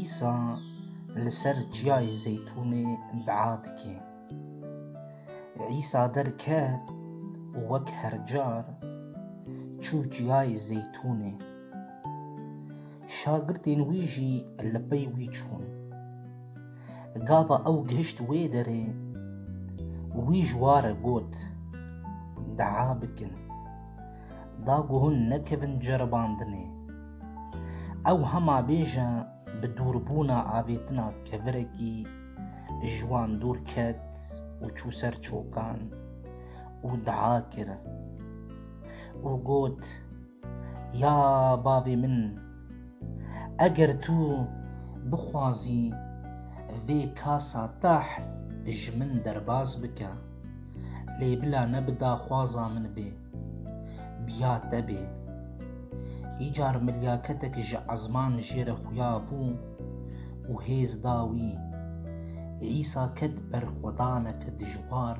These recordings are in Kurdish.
Îsa li ser çiyayê Zeytûnê dua dike. Îsa derket û wek her car çû çiyayê Zeytûnê. Şagirtên wî jî li pey wî çûn. Gava ew gihişt wê derê wî ji wan re got, Dua bikin. da ku hûn nekevin ceribandinê. Ew hema bêje bi dûrbûna avêtina kevirekî ji wan dûr ket û çû ser çokan û dua kir û got, Ya bavê min, eger tu bixwazî vê kasa tahl ji min derbas bike. Lê bila ne bi daxwaza min bê. Biya te bê. Îcar milyaketek ji ezman jê re xuya bû û hêz da wî. Îsa ket berxwedaneke dijwar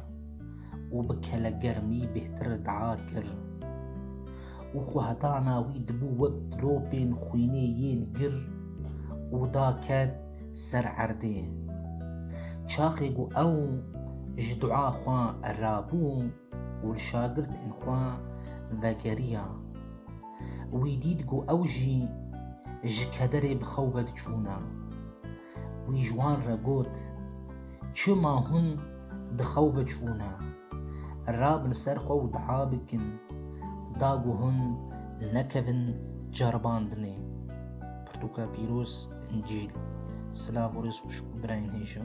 û bi kelegermî bêhtir dua kir. Û xwe heta na wî dibû wek dilopên xwînê yên gir û da ket. ser erdê. Çaxê ku ew ji dua xwe rabû û li şagirtên xwe vegeriya, wî dît ku ew jî ji kederê bi xew ve diçûne. Wî ji wan re got, Çima hûn di xew ve çûne? Rabin ser xwe û dua bikin, da ku hûn nekevin ceribandinê. pirtûka pîroz, incîl. Silav û rêz xwişk û birayên hêja.